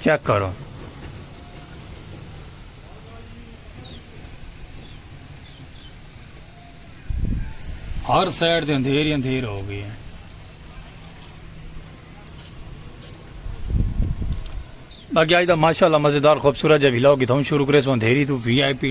Check کرو۔ ہر side تے اندھیر ہی اندھیر ہو گئی ہے۔ باقی آج دا ماشاءاللہ مزیدار خوبصورت جا ویلاگ اتھاں شروع کریسوں اندھیری تو وی آئی پی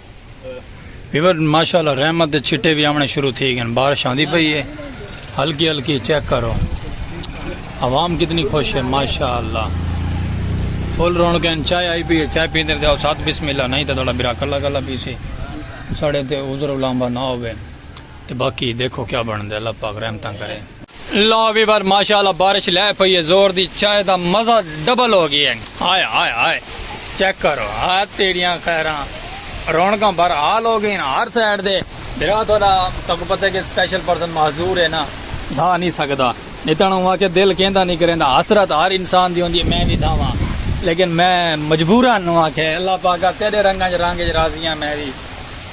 ویور ماشاءاللہ رحمت دے چھٹے بھی آمنے شروع تھی گئے بارش آندی پئی ہے ہلکی ہلکی چیک کرو عوام کتنی خوش ہے ماشاءاللہ فل رونق ہیں چائے آئی پی ہے چائے پیندے تے ساتھ بسم اللہ نہیں تے تھوڑا برا کلا کلا پیسی ساڑے تے عذر علامہ نہ ہوے تے باقی دیکھو کیا بنڑدے اللہ پاک رحمتاں کرے۔ لو وی ور ماشاء اللہ بارش لہہ پئی ہے زور دی چائے دا مزہ ڈبل ہو گیا ہے ہائے ہائے ہائے چیک کرو ہا تیڈیاں خیراں رونقاں بر حال ہو گئین ہر سائیڈ دے بھرا تہاڈا تہاکوں پتہ ہے کہ سپیشل پرسن معذور ہے نا دھا نی سکدا نی تاں اوہاں آکھیا دل کیندا نی کریندا حسرت ہر انسان دی ہوندی ہے میں وی دھاواں لیکن میں مجبورا ن آکھیا اللہ پاکا تیڈے رنگاں اچ رنگ اچ راضی ہاں میں وی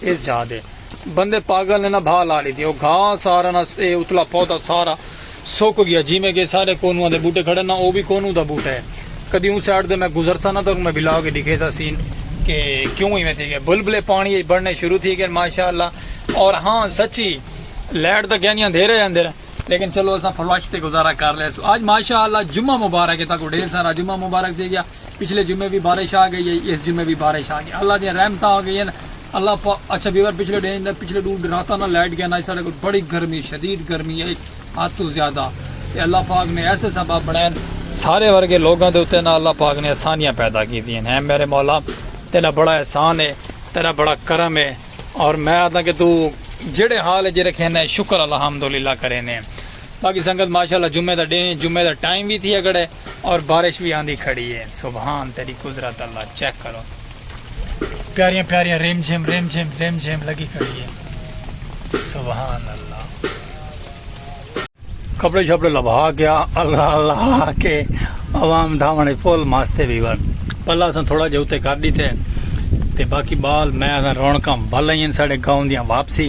ایس جھا دے بندے پاگل نے نا بھا لا ڈیتی او گھا سارا نا اے اتلا پودا سارا سک گیا جیویں کے سارے کونواں دے بوٹے کھڑے نا او وی کونو دا بوٹا اے کدی اوں سائیڈ دے میں گزرسا نا تاکوں میں بلا کے ڈکھیسا سین کے کیوں ایویں تھی گیا بلبلے پانی اچ بڑنے شروع تھی گئے ماشاءاللہ اور ہاں سچی لائٹ دا گیا نی اندھیرے ہے اندھیرے لیکن چلو اساں فلش تے گزارا کر لے سو اج ماشاءاللہ جمعہ مبارک ہے تاکوں ڈھیر سارا جمعہ مبارک تھی گیا پچھلے جمعے وی بارش آ گئی ہئی اس جمعے وی بارش آ گئی اللہ دیاں رحمتاں ہو گئین اللہ پا اچھا ویور پچھلے ڈینھ دا پچھلے ڈو راتاں نال لائٹ گئین آج ساڈے کول بڑی گرمی شدید گرمی ہئی حد توں زیادہ تے اللہ پاک نے ایسے سبب بنڑائین سارے ورگے لوگاں دے اتے نال اللہ پاک نے آسانیاں پیدا کیتیاں ہیں میرے مولا تیرا بڑا احسان ہے تیرا بڑا کرم ہے اور میں آدھا کہ تو جڑے حال جی رکھینے شکر الحمدللہ کرینے باقی سنگت ماشاءاللہ جمعے دا ڈینھ ہے جمعے دا ٹائم وی تھیا گڑے اور بارش وی آندی کھڑی ہے سبحان تیری قدرت اللہ چیک کرو پیاریاں پیاریاں ریم جھم ریم جھم ریم جھم لگی کھڑی ہے سبحان اللہ کپڑے شپڑے لبھا کے اللہ اللہ کے عوام دھاونے فل ماستے بھی ور پلا سن تھوڑا جے اتے کر دی تھے تے باقی بال میں رونکاں بھلائیں ساڑے گاؤں دیاں واپسی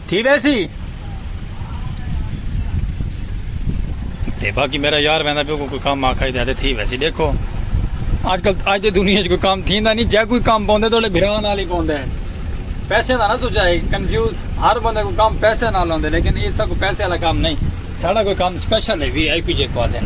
تھی ویسی تے باقی میرا یار ویندا پیو کوئی کام آکھا ہی تے تھی ویسی دیکھو اج کل اج دے دنیا وچ کوئی کام تھیندا نہیں جے کوئی کام پوندے تہاڈے بھرا نال ہی پوندے پیسے دا نہ سوچائے کنفیوز ہر بندے کو کام پیسے نال ہوندے لیکن اس کو پیسے والا کام نہیں ساڈا کوئی کام سپیشل ہے وی آئی پی جے کو آدن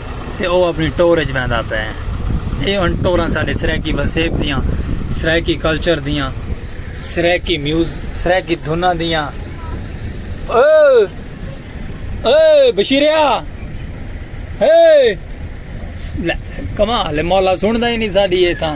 تے او اپݨی ٹور اچ ویندا پئے اے ہن ٹوراں ساݙے سرائیکی وسیب دیاں سرائیکی کلچر دیاں سرائیکی میوز سرائیکی دھناں دیاں او او بشیریا ہے کمال مولا سندا ہی نہیں ساݙی اے تاں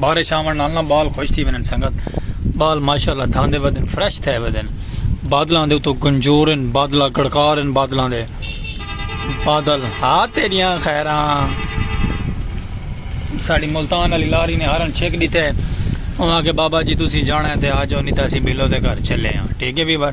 بارش آون نال نہ بال خوش تھی ونن سنگت بال ماشاءاللہ دھاندے ودن فریش تھے ودن بادلاں دے تو گنجورن بادلا گڑکارن بادلاں دے بادل ہا تیریاں خیراں ساڑی ملتان علی لاری نے ہارن چھک دیتے ہیں وہاں کے بابا جی تسی جانا ہے تے آجو نہیں تاسی بلو دے گھر چلے ہیں ٹھیک ہے بھی بار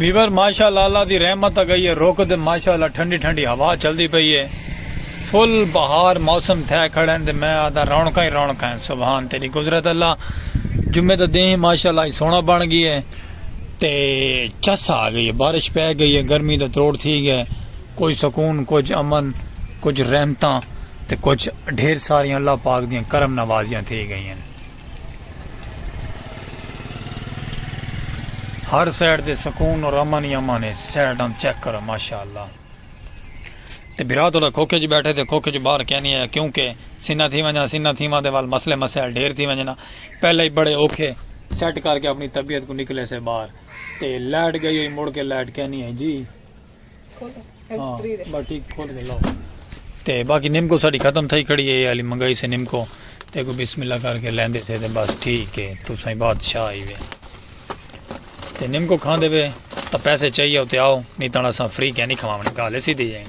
ویور ماشاءاللہ اللہ دی رحمت اگئی ہے رک دے ماشاءاللہ ٹھنڈی ٹھنڈی ہوا چلدی پئی ہے پھل بہار موسم تھئے کھڑن تے میں آہدا رونقاں ہی رونقاں ہن سبحان تیڈی قدرت اللہ جمعے دا دیں ماشاءاللہ اج سونا بن گئی ہے تے چس آ گئی ہے بارش پے گئی ہے گرمی دا تروڑ تھی گیا ہے کوئی سکون کچھ امن کچھ رحمتاں تے کچھ ڈھیر ساریاں اللہ پاک دیاں کرم نوازیاں تھی گئی ہیں ہر سائیڈ تے سکون اور امن ہی امن ہے سائیڈ ہم چیک کرو ماشاءاللہ تے بھرا تولا کھوکھے اچ بیٹھے تے کھوکھے چوں باہر کینی آیا کیوں کہ سنہ تھی ونجاں سنہ تھیواں دے ول مسئلے مسائل ڈھیر تھی ونجنا پہلے ہی بڑے اوکھے سیٹ کر کے اپنی طبیعت کوں نکلے سے باہر تے لائٹ گئی ہوئی مڑ کے لائٹ کینی آئی جی ہاں بس ٹھیک کھول کے لاؤ تے باقی نمکو ساڑی ختم تھائی کھڑی ہے یہ علی منگائی سے نمکو تے کو بسم اللہ کر کے لیندے سے تے بس ٹھیک ہے تو سائیں بادشاہ آئی وے تے نمکو کھاندے وے تاں پیسے چاہیے اتے آؤ نہیں تاں اساں فری کینی کھواونے گالے سی دے جائیں